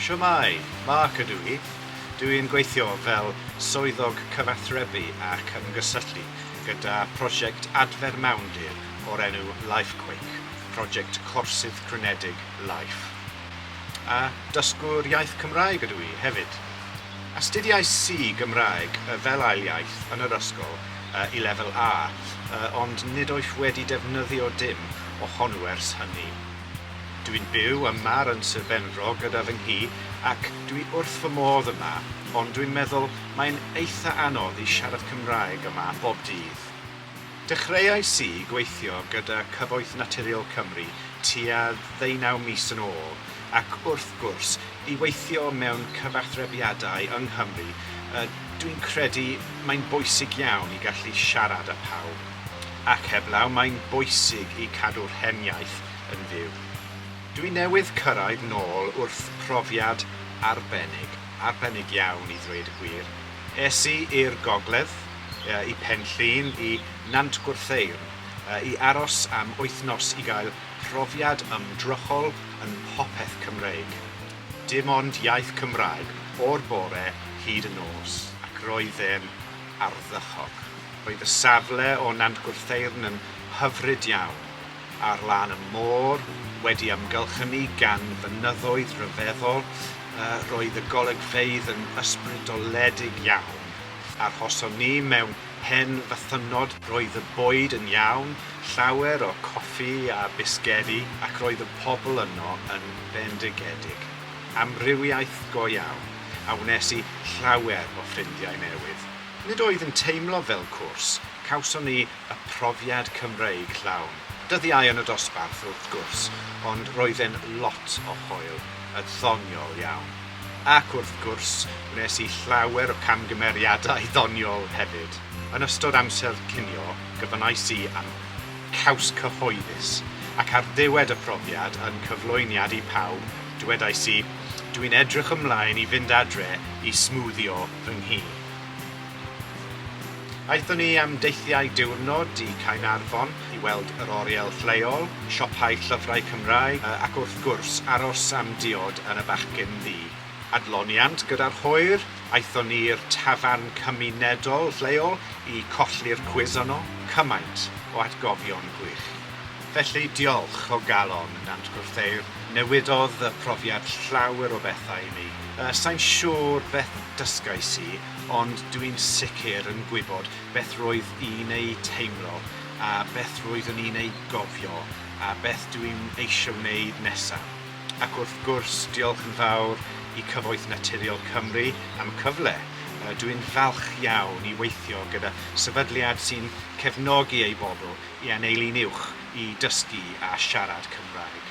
Shwmae, Mark ydw i. Dw i'n gweithio fel Swyddog Cyfathrebu ac Ymgysylltu gyda phrosiect adfer mawndir o'r enw LifeQuake, prosiect corsydd crynedig Life. A dysgwr iaith Cymraeg ydw i hefyd. Astudiais i Gymraeg fel ail iaith yn yr ysgol i lefel A, ond nid oes wedi defnyddio dim o hon wers hynny. Dw i'n byw ym Mar yn Sir Benfro gyda fy nghi ac dw i wrth fy modd yma, ond dwi'n meddwl mae'n eitha' anodd i siarad Cymraeg yma bob dydd. Dechreuais i gweithio gyda Cyfoeth Naturiol Cymru tua ddeunaw mis yn ôl ac wrth gwrs, i weithio mewn cyfathrebiadau yng Nghymru, dwi'n credu mae'n bwysig iawn i gallu siarad â phawb. Ac heblaw, mae'n bwysig i cadw'r hen iaith yn fyw. Dwi newydd cyrraedd nôl wrth profiad arbennig, arbennig iawn i ddweud y gwir. Es i i'r gogledd, i Pen Llŷn, i Nant Gwrtheyrn, i aros am wythnos i gael profiad ymdrochol yn popeth Cymreig. Dim ond iaith Cymraeg o'r bore hyd y nos, ac roedd e'n ardderchog. Roedd y safle o Nant Gwrtheyrn yn hyfryd iawn, ar lân y môr, wedi amgylchynu gan fynyddoedd rhyfeddol, roedd y golygfeydd yn ysbrydoledig iawn, Arhoson ni mewn pen fythynnod. Roedd y bwyd yn iawn, llawer o coffi a bisgedi, ac roedd y pobl yno yn bendigedig. Amrywiaeth go iawn, a wnes i llawer o ffrindiau newydd. Nid oedd yn teimlo fel cwrs, cawson ni y profiad Cymreig llawn. Dyddiau yn y dosbarth, wrth gwrs, ond roedd e'n lot o hwyl, yn ddoniol iawn. Ac wrth gwrs, gwnes i llawer o camgymeriadau ddoniol hefyd. Yn ystod amser cinio, gofynnais i am caws cyhoeddus, ac ar ddiwedd y profiad, yn cyflwyniad i pawb, dywedais i, 'Dwi'n edrych ymlaen i fynd adre i smwddio fy nghi. Aethon ni am deithiau diwrnod i Caernarfon i weld yr oriel lleol, siopau llyfrau Cymraeg ac wrth gwrs aros am diod yn y Bachgyn Ddu. Adloniant gyda'r hwyr, aethon ni i'r tafarn cymunedol lleol i colli'r cwis yno, cymaint o atgofion gwych. Felly diolch o galon i Nant Gwrtheyrn, newidodd y profiad llawer o bethau i mi. Sai'n siŵr beth dysgais i, ond dw i'n sicr yn gwybod beth roedd i'n ei teimlo a beth roeddwn i'n ei gofio a beth dw i'n eisiau wneud nesaf. Ac wrth gwrs, diolch yn fawr i Cyfoeth Naturiol Cymru am y cyfle. Dw i'n falch iawn i weithio gyda sefydliad sy'n cefnogi ei bobl i anelu'n uwch i dysgu a siarad Cymraeg.